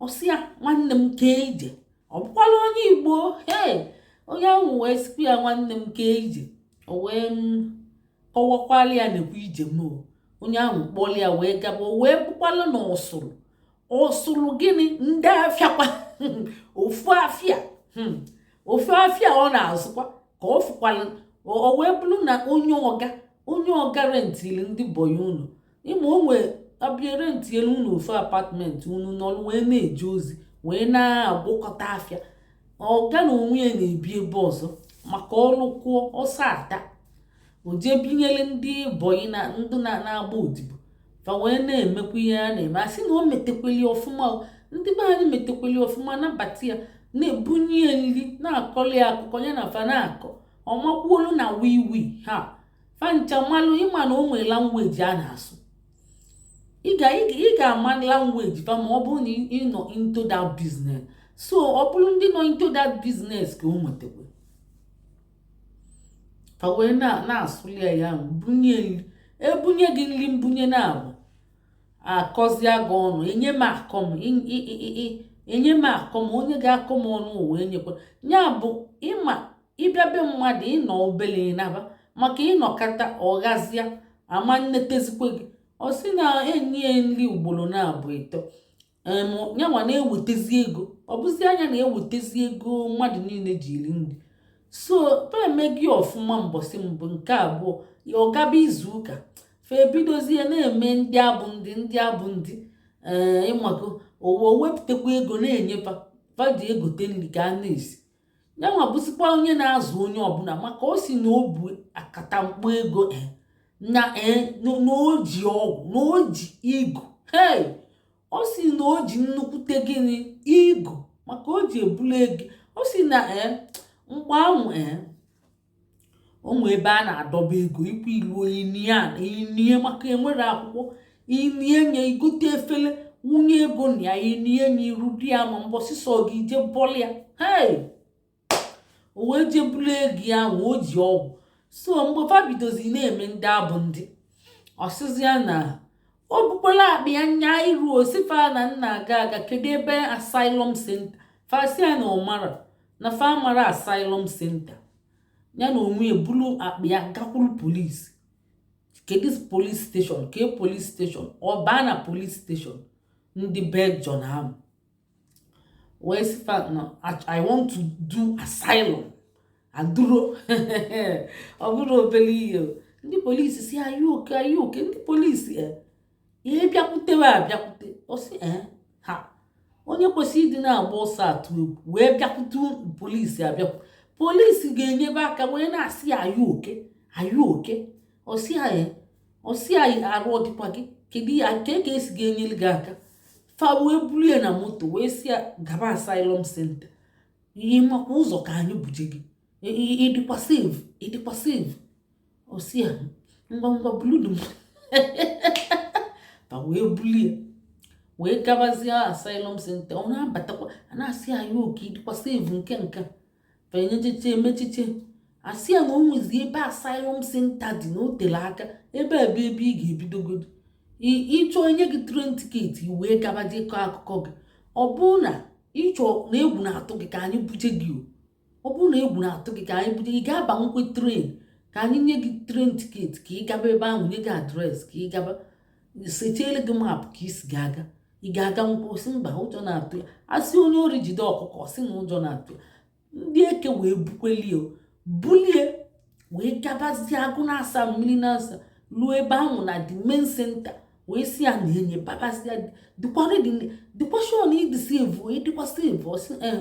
ọ sị ya nwanne m kee ije ọ bụkwala onye igbo ee onye ahụ wee sịkwu ya nwanne m kee ije o wee kọwakwalị ya nekwa ije m onye ahụ kpọrọ ya wee gaba o wee bụkwala na o soro o soro gịnị ndị afịakwa ofu afịa hmm. ofu afịa ọ na-azụkwa ka ọ fụkwala o wee bụrụ na onye ọga onye ọga rentiri ndị bọyị ụlọ ị ma o nwee a bịa rentinyere unu ofu apatmentị unu nọrọ wee na-eje ozi wee na-agwọkọta afịa ọga n'onwe ya na-ebi ebe ọzọ maka o rukwuo ọsọ ata o jee binyere ndị bọyị na ndị na-agba odibo fa wee na-emekwa ihe a na-eme a sị na o metekweli ọfụma ndị be anyị metekweli ọfụma nabata ya na-ebunye ya nri na-akọli akụkọ ya na fa na-akọ ọ makwuolu na wiwi ha fa ncha malụ ị ma na o nwe langweji a na-asụ ị ga-ama langweji fa ma ọ bụrụ na ị nọ into that business so ọ bụrụ ndị nọ into that business ka o nwetakwa fa wee na-asụli ya ya bunye e bunye gị nri mbunye naabọ a kọzie gị ọnụ enye m akọ m enye m akọ m onye ga-akọ m ọnụ ụwa enyekwa ya bụ ịma ị bịa be mmadụ ị nọ obele ị naba maka ị nọkata ọ gazịa a ma nnetezikwe gị ọ sị na e nye ya nri ugboro naabọ ịtọ yanwa na-ewetezi ego ọ bụzi nya na-ewetezi ego mmadụ niile ji eri nri so fa eme gị ọfụma mbọsị mbụ nke abụọ ya ọ gaba izu ụka fa ebidozie na-eme ndị abụ ndị ndị abụ ndị ee eh, ị mago o wee wepụtakwa ego na-enye fa fa ji egote nri ka a na-esi yanwa bụzikwa onye na-azụ onye ọbụla maka ọ sị na o bu akatamkpo ego eh, na eh, na o ji ọgwụ na o ji ego hei ọ sị na o ji nnukwute gịnị ego maka o ji ebulu ego ọ sị na eh, mgbe ahụ o nwee ebe a na-adọba ego ikwu i luo i nie ya i nie maka e nwere akwụkwọ i nie nye i gote efele wunye ego na ya i nie nye iru di ya ma mbọsị sọ gị je bọlụ ya hei o wee je buru ego ya ma o ji ọgwụ so mgbe fa bidozi na-eme ndị abụ ndị ọ sịzi ya na o bukwala akpa ya nya iru ọ sị fa na nna aga aga kedu ebe asylum center fa sị ya na ọ mara na fa amara asylum center ya na onwe ya buru akpa ya gakwuru polisi kedu police station ke police station ọ baa na police station ndị belgium ahụ wee sị fa na i want to do asylum aduro ọ bụrọ obere ihe ndị polisi sị are you okay are you okay ndị polisi e eh, ihe bịakwutewe abịakwute ọ sị ee ha onye kwesịrị ịdị na-agba ọsọ atụ egwu wee bịakwute polisi abịakwu polisi ga-enyebe aka wee na-asị ya are you okay are you okay ọ sị ya ọ sị ya arụ ọ dịkwa gị kedu ya nke ka e si ga-enyere gị aka fa wee buru ya na moto wee sị ya gaba asylum center ị makwa ụzọ ka anyị buje gị ị dịkwa safe ị dịkwa safe ọ sị ya ngwa ngwa buludu m fa wee bulie wee gabazie asylum center ọ na-abatakwa a na-asị ya are you okay ị dịkwa safe nke nke fenyechiche emechiche a sị ya na o nwezi ebe asylum center dị na o tere aka ebe a bụ ebe ị ga-ebidogodi ị chọọ e nye gị train ticket wee gaba jee kọọ akụkọ gị ọ bụrụ na ị chọọ na egwu na-atụ gị ka anyị buje gị o ọ bụrụ na egwu na-atụ gị ka anyị buje gị ị ga-abanwukwa train ka anyị nye gị train ticket ka ị gaba ebe ahụ nye gị address ka ị gaba setiele gị map ka i si ga-aga ị ga-aganwu ọ sị mba ụjọ na-atụ ya a sị onye ori jide ọkụkọ sị na ụjọ na-atụ ya ndị eke wee bukwelie bulie wee gabazie agụ n'asaa mmiri n'asaa ruo ebe ahụ na the main center wee sị ya na enye babazia ị dịkwa sure na ị dị safe ị dịkwa safe ọ sị eh,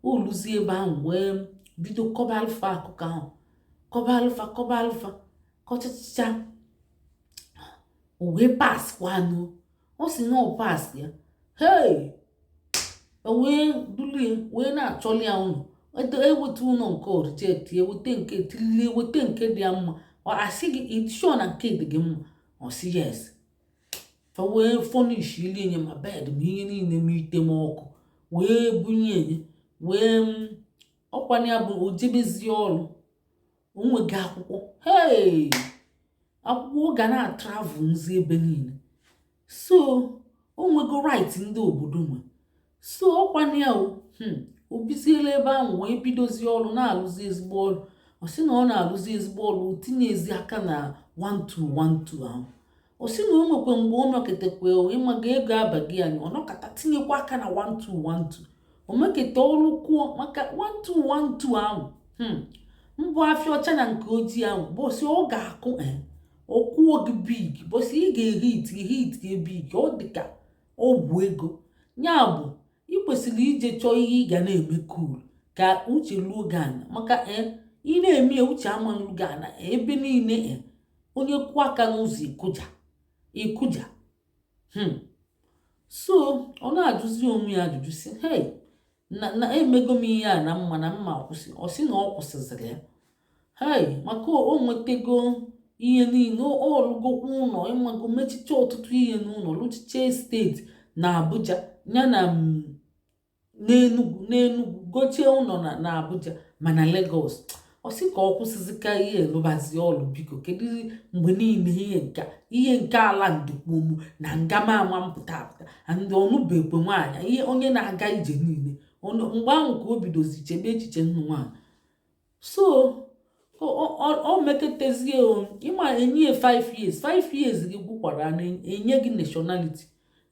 o luzie ebe ahụ wee bido kọbalụ fa akụkọ ahụ kọbalụ fa kọbalụ fa kọchacha wee pass kwanụ ọ sị na ọ passịa hei e wee dulie wee na-achọlụ ya ụlọ e weta ụlọ nke ọ reject e weta nke till e weta nke dị ya mma a sị gị ị dị sure na nke dị gị mma ọ sị yes fa wee furnishili ya nye ma bed ma ihe niile ma ite ma ọkụ wee bunye enye wee mm, ọ kwanụ ya bụ o jebezie ọrụ o nwego akwụkwọ hei akwụkwọ ọ ga na-atravelzi ebe niile so o nwego right ndị obodo nwe so ọkwana ya hmm, o biziela ebe ahụ wee bidozie ọrụ na-alụzi ezigbo ọrụ ọ sị na ọ na-alụzi ezigbo ọrụ tinyezi aka na 1212 ahụ ọ sị na o nwekwa mgbe ọ meketakwa ị maga ego abaghị anyị ọ nọkata tinyekwa aka na 1212 o meketa ọrụ kwuo maka 1212 ahụ hmm, mbụ afịa ọcha na nke ojii ahụ bọsị ọ ga-akụ eh, ọ kụọ gị big bọsị ị ga-ehit ehit gị big ọ dịka ọgwụ ego ya bụ ị kwesịrị ije chọọ ihe ị ga na-eme cool ka uche luo gị ana maka eh, ị na-eme ya uche ama-elu gị ana eh, ebe niile eh, onye kụọ aka n'ụzọ ị kụja ị kụja hmm. so ọ na-ajụzi onwe ya ajụjụ sị hey na na emego m ihe a na m ma na m ma-akwụsị ọ sị na ọ kwụsịzịrị ya hei maka o nwetego ihe niile ọ lụgokwa ụnọ ị mago mechicha ọtụtụ ihe n'ụnọ lụchicha estate na abuja ya na mm, n'enugwu n'enugwu gochie ụnọ na abuja ma na lagos ọ sị ka ọ kwụsịzika ihe lụbazie ọlụ biko kedu mgbe niile ihe nke ihe nke ala ndokpomu na ngama ama mpụta apụta ndị ọ nụbekwe nwaanyị ihe onye na-aga ije niile mgbe ahụ ka o bidozi chebe echiche ịnụ nwaanyị so o meketezie ị ma e nye 5 years 5 years gị gwụkwara na enye gị nationality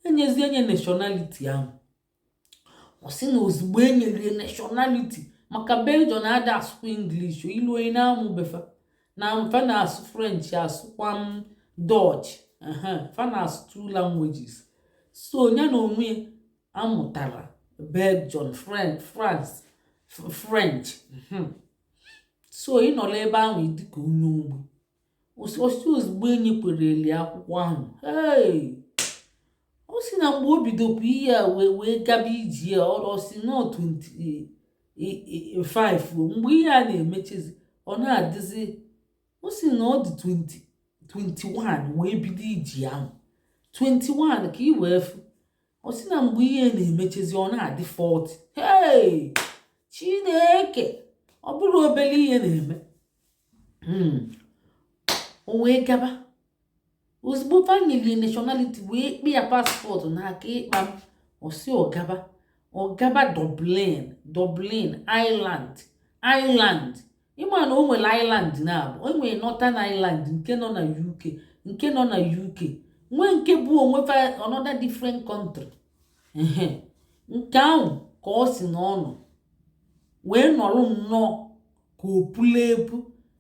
e nyezie nya nationality ahụ ọ sị na ozugbo e nyere ya nationality maka belgium na-ada asụkwa english i luo onye na-amụ be fa na fa na-asụ french asụkwa m dutch fa na-asụ two languages so ya n'onwe ya amụtara belgium french france french so ị nọla ebe ahụ dịka onye ogbi ọ sị ozugbo e nyekwere ya akwụkwọ ahụ ee ọ sị na mgbe o bidobu ihe a wee wee gaba ije a ọ sị na 25 mgbe ihe a na-emechezi ọ na-adịzi ọ sị na ọ dị 20 21 wee bido ije ahụ 21 ka ị wee fụ ọ sị na mgbe ihe na-emechezi ọ na-adị 40 hey chineke ọ bụrọ obere ihe na-eme hmm. o wee gaba ozugbo fa nyeli ya nationality wee kpe ya passport n'aka kpam ọ sị ọ gaba ọ gaba dublin dublin ireland ireland ị ma na o nwere ireland na-abụ o nwere northern ireland nke nọ na uk nke nọ na uk nwee nke bụ onwe fa another different country nke ahụ ka ọ sị na ọ nọ wee nọrọ nnọọ ka o pula epu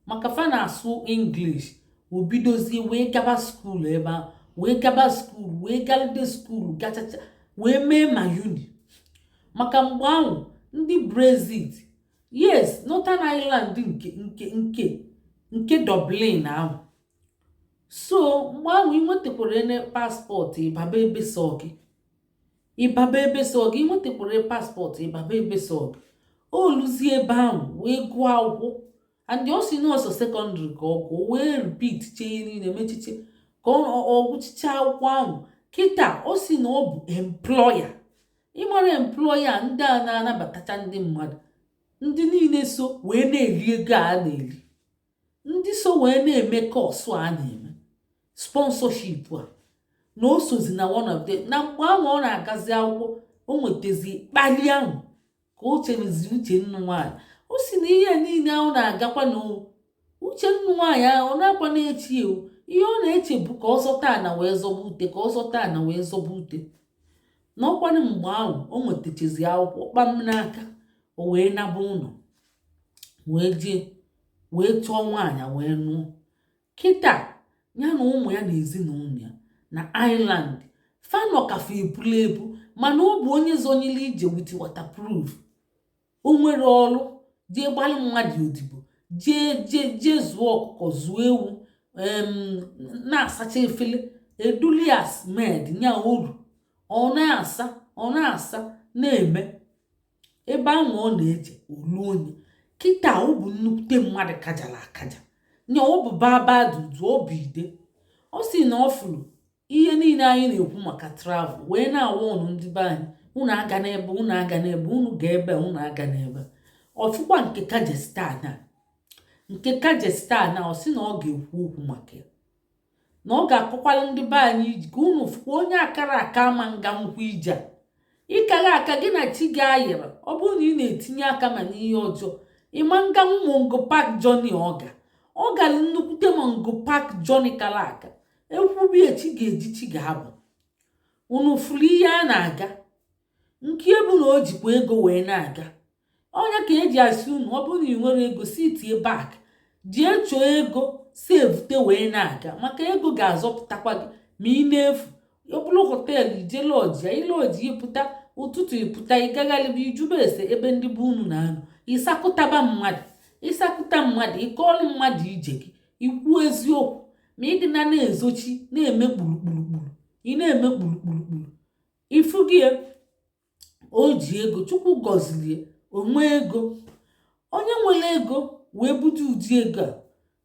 maka fa na-asụ English wee bidozie wee gaba skuul ebe ahụ wee gaba skuul wee galide skuul gachacha wee mee ma uni maka mgbe ahụ ndị Brexit yes Northern Ireland nke nke nke nke Dublin ahụ so mgbe ahụ ị nwetakwara ene paspọtụ ị baba ebe sọ gị ị baba ebe sọ gị ị nwetakwara paspọtụ ị baba ebe sọ gị o luzie ebe ahụ wee gụọ akwụkwọ and ọ sị na ọ sọ sekọndịrị ka ọ gụọ wee repeat chee niile mechiche ka ọ gụchicha akwụkwọ ahụ kịta ọ sị na ọ bụ employer ị mara employer ndị a na-anabatacha ndị mmadụ ndị niile so wee na-eri ego a na-eri ndị so wee na-eme kọsụ a na-eme sponsorship a na o sozi na one of them na mgbe ahụ ọ na-agazi akwụkwọ o nwetazi kpali ahụ ka o chebezi uche ịnụ nwaanyị ọ sị na ihe niile ahụ na-agakwa na uche ịnụ nwaanyị ahụ ọ naakwa na-eche ya o ihe ọ na-eche bụ ka ọ zọta ana wee zọba ute ka ọ zọta ana wee zọba ute na ọ kwanụ mgbe ahụ o nwetachazi akwụkwọ kpam n'aka o wee naba ụlọ wee jee wee chọọ nwaanyị wee nụọ kịta ya na ụmụ ya na ezinụlọ ya na Ireland fa nọ ka fa ebula ebu mana ọ bụ onye zọnyere ije with waterproof o nwere ọrụ jee gbaalị mmadụ odibo jee jee jee zụọ ọkụkọ zụọ ewu na-asacha efele e dulu ya as maid nya oru ọ na-asa ọ na-asa na-eme ebe ahụ ọ na-eje ọlụ onye kịta ọ bụ nnukwute mmadụ kajara akaja nya ọ bụ baba dudu ọ bụ ide ọ sị na ọ fụrụ ihe niile anyị na-ekwu maka travel wee na-agwa unu ndị be anyị unu agana ebe unu agana ebe unu ga ebe unu agana ebe ọ fụkwa nke Kyrgyzstan a nke Kyrgyzstan a ọ sị na ọ ga-ekwu okwu maka ya na ọ ga-akọkwala ndị be anyị ije ka unu fụkwa onye akara aka ama nga nkwụ ije a ị kara aka gị na chi gị ayịrị ọ bụrụ na ị na-etinye aka ma n'ihe ọjọọ ị ma nga Mungo Park journey ọ ga ọ gara nnukwute Mungo Park journey kara aka e kwube ya chi ga-eji chi ga-abọ unu fụrụ ihe a na-aga nke ya bụ na o jikwa ego wee na-aga ọ nya ka e ji asị unu ọ bụrụ na ị nwerọ ego sitie back jee chọọ ego sevute wee na-aga maka ego ga-azọpụtakwa gị ma ị na-efu ọ bụrụ họteelụ i jee lọji ya ị lọji ị pụta ụtụtụ ị pụta ị gagharịba ị jụba ese ebe ndị be unu na-anọ ị sakụtaba mmadụ ị sakụta mmadụ ị kọọlụ mmadụ ije gị i kwuo eziokwu ma ị dị na na-ezochi na-eme kpurukpurukpuru ị na-eme kpurukpurukpuru ifu gị o ji ego chukwu gọzilie o nwee ego onye nwere ego wee bute ụdị ego a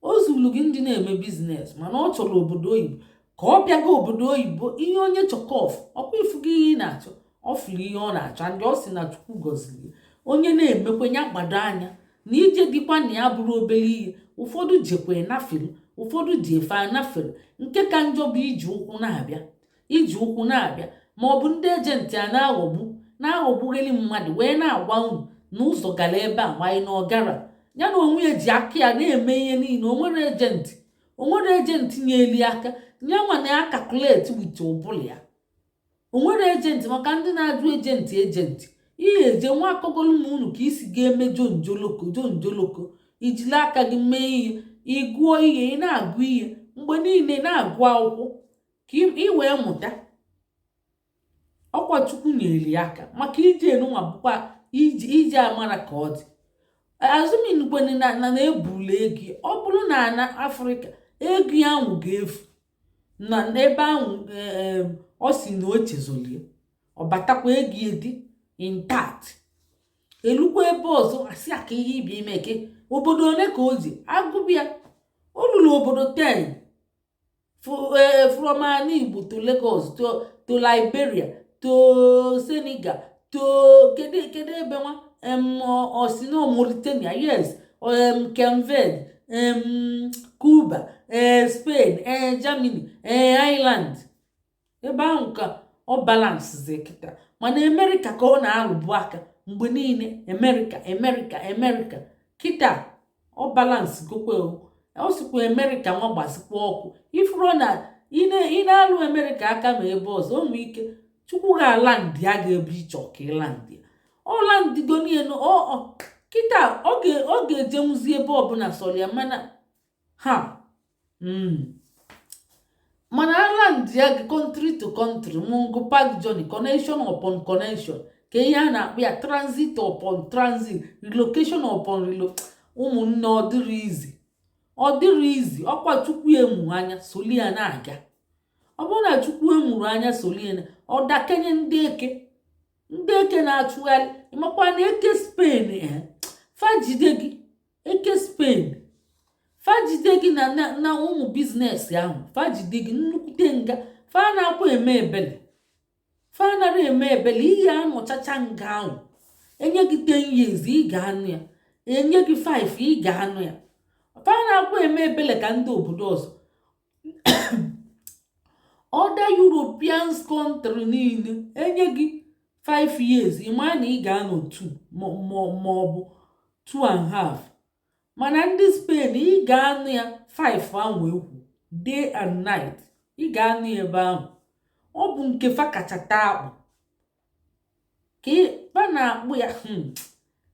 o zuru gị ndị na-eme business mana ọ chọrọ obodo oyibo ka ọ bịaga obodo oyibo ihe onye chọ ka ọ fụ ọkwa ị fugo ihe ị na-achọ ọ fụrụ ihe ọ na-achọ and ọ sị na chukwu gọzilie onye na-emekwe ya gbado anya na ije dịkwa na ya bụrụ obere ihe ụfọdụ jekwa nafere ụfọdụ ji efe anafere nke ka njọ bụ iji ụkwụ na-abịa iji ụkwụ na-abịa ma ọ bụ ndị agent a na-aghọgbu na-aghọgbugheli mmadụ wee na-agwa unu na ụzọ gara ebe a nwanyị na ọ gara ya na onwe ya ji aka ya na-eme ihe niile o nwere agent o nwere agent nyelie aka ya nwa na-acalculate with ụbụlụ ya o nwere agent maka ndị na-ajụ agent agent ihe eje nwa akọgolu m unu ka i si ga-eme jonjoloko jonjoloko i jili aka gị mee ihe ị gụọ ihe ị na-agụ ihe mgbe niile na-agụ akwụkwọ ka ị wee mụta ọkwa chukwu nyere ya aka maka ije enu nwa bụkwa ije amara ka ọ dị assuming kwanụ na a na-ebuli ego ọ bụrụ na ana afrịka ego ya ahụ ga-efu na n'ebe ahụ e, e, ọ sị na o chezolie ọ batakwa ego ya dị intact e lukwa ebe ọzọ a sị aka ihe ibi ime ke obodo ole ka o ji agụbịa o lulu obodo ten eh, from Anigbo to Lagos to to Liberia to Senegal to kedu kedu ebe nwa osi na Mauritania yes Kenved Cuba eh, Spain eh, Germany Ireland ebe ahụ ka ọ balancezi kịta mana America ka ọ na-arụbu aka mgbe niile America America America kịta ọ balancegokwe ọ sịkwa America nwa gbazikwa ọkụ ị fụrụ na ị na-alụ America aka ma ebe ọzọ o nwee ike chukwu ga-aland ya ga ebe ị chọọ ka ị land ya ọ landgonienu kịta ọ ga-ejenwuzi ebe ọbụla sọrọ ya mana ha hmm. mana aland ya gị country to country Mungo Park journey connection upon connection ka ihe a na-akpọ ya transit upon transit relocation upon relo ụmụnne ọ dịrị easy ọ dịrị easy ọkwa chukwu emu anya soli ya na-aga ọ bụrụ na chukwu emuru anya soli ya ọ dakenye ndị eke ndị eke na-achụgharị ị makwa na eke Spain eh, fa jide gị eke Spain fa jide gị na na ụmụ business ahụ fa jide gị nnukwute nga fa anaakwa eme ebele fa anara eme ebele ị ya-anọchacha nga ahụ e nye gị 10 years ị ga-anọ ya e nye gị 5 ị ga-anọ ya fa anaakwa eme ebele ka ndị obodo ọzọ other European country niile enye gị 5 years ịma na ị ga-anọ 2 ma ọ bụ 2 and half mana ndị Spain ị ga-anọ ya 5 ahụ ekwu day and night ị ga-anọ ebe ahụ ọ bụ nke fa kacha taa akpụ ka fa na-akpọ ya hmm.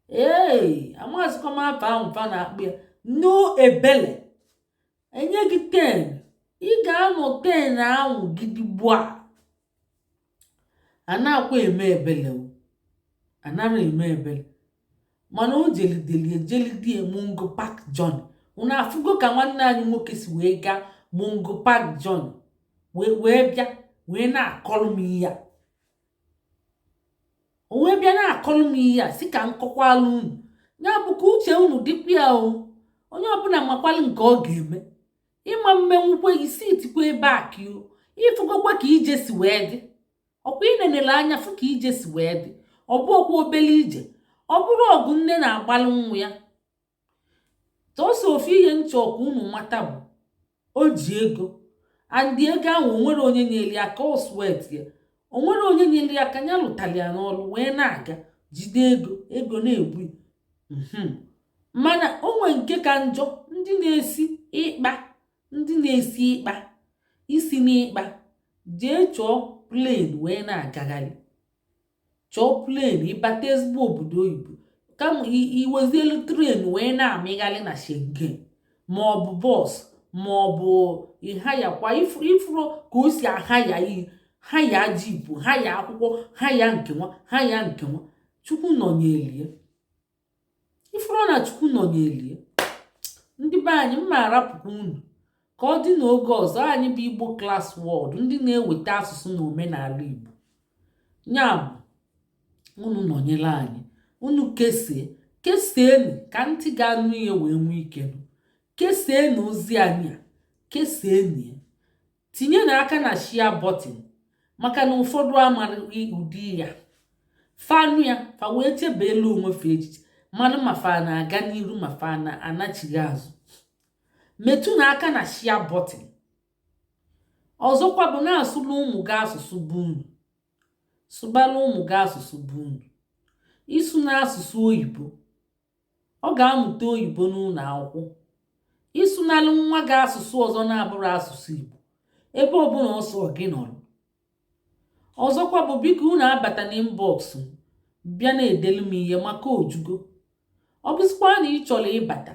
ee amazikwa m afa ahụ fa na-akpọ ya no ebele enye gị ten ị ga-anọ ten ahụ gidigba anakwa eme ebele o anara eme ebele mana o jelideli ejelide Mungo Park journey unu afụgo ka nwanne anyị nwoke si wee gaa Mungo Park journey wee bịa wee na-akọrọ m ihe a o wee bịa na-akọlụ m ihe a sị ka m kọkwalụ unu ya bụ ka uche unu dịkwa ya o onye ọbụla makwalụ nke ọ ga-eme ịma mmenwukwe isi itikwa ebe a ka o ịfụgokwa ka ije si wee dị ọkwa inenele anya fụ ka ije si wee dị ọ bụrọkwa obele ije ọ bụrọ ọgụ nne na-agbalụ nwa ya tọsọ ofu ihe m chọ ka unu mata bụ o ji ego and ego ahụ o nwerọ onye nyere ya aka ọ sweat ya o nwerọ onye nyere ya aka ya lụtara ya n'ọrụ wee na-aga jide ego ego na-egbu mhm. mana o nwe nke ka njọ ndị na-esi ịkpa ndị na-esi ịkpa i si n'ịkpa jee chọọ plane wee na-agagharị chọọ plane ị bata ezigbo obodo oyibo kama i wezielu train wee na-amịgharị na Schengen ma ọ bụ bus ma ọ bụ ị hirekwa ị fụrọ ka o si ahire ihe hire jeep hire akwụkwọ hire nke nwa hire nke nwa chukwu nọnyere ya ị fụrọ na chukwu nọnyeli ya ndị be anyị m ma-arapụkwa unu ka ọ dị n'oge ọzọ anyị bụ Igbo Class World ndị na-eweta asụsụ na omenala igbo ya bụ unu nọnyere anyị unu kesie kesienụ ka ntị ga-anụ ihe wee nwee ike nụ kesienụ ozi anyị a kesienụ ya tinyenụ aka na share button maka na ụfọdụ amarọ ụdị ya fa nụ ya fa wee chebeelu onwe fa echiche malụ ma fa na-aga n'iru ma fa na-anachigha azụ metụnụ aka na share button ọzọkwa bụ na-asụla ụmụ gị asụsụ be unu sụbala ụmụ gị asụsụ be unu ịsụna asụsụ oyibo Ọ ga-amụta oyibo n'ụlọ akwụkwọ. Ịsụnalụ nwa gị asụsụ ọzọ na-abụrọ asụsụ Igbo ebe ọbụla ọ sọ gị nọrọ. Ọzọkwa bụ biko unu abatana inbox m bịa na-edelu m ihe maka o jugo. Ọ bụzịkwa na ị chọrọ ịbata,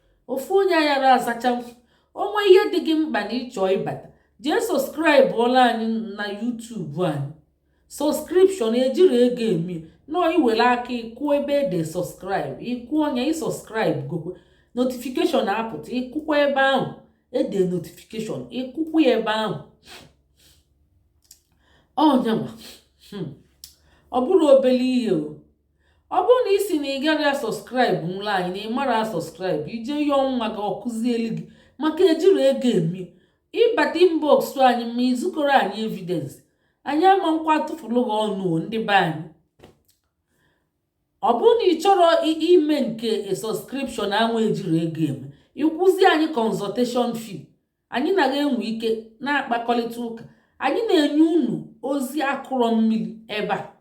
ofu onye ayara azacha o nwee ihe dị gị mkpa na ị chọọ ịbata jee sọskraịbụọla anyị na yutubu anyị sọskripshọn ejiri ego eme nọọ i were aka ị kụọ ebe e de sọskraịbụ ị kụọ nya ị sọskraịbụgokwe notifikeshọn apụta ị kụkwaa ebe ahụ e de notifikeshọn ị kụkwaa ya ebe ahụ ọ nyanwa hmm. ọ bụrụ obere ihe o ọ bụrụ na ị sị na ị gaghị asọskraịbụla anyị na ị mara asọskraịbụ ije ihe ọnwa gị ọkụzielu gị maka ejiri ego eme ị bata inbox anyị ma izukọrọ anyị evidensị anyị ama nkwa atụfuru gị ọnụ ndị be anyị ọ bụrụ na ị chọrọ ime nke sọskripshọn anwa ejiri ego eme ị kwụọzi anyị kọnzọteshọn fee anyị naghị enwe ike na-akpakọrịta ụka anyị na-enye unu ozi akụrọ mmiri ebe a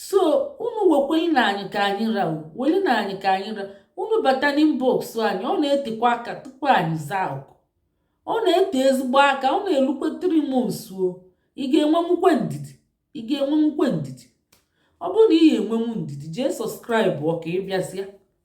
so unu wekwelinụ anyị ka anyị ra welinụ anyị ka anyị ra unu bata n'inbox anyị ọ na-etekwa aka tupu anyị zaa oku ọ na-ete ezigbo aka ọ na-elukwe three months o ị ga-enwenwukwe ndidi ị ga-enwenwukwe ndidi ọ bụrụ na ị ga-enwenwu ndidi jee sọskraịbụọ ka ị bịazịa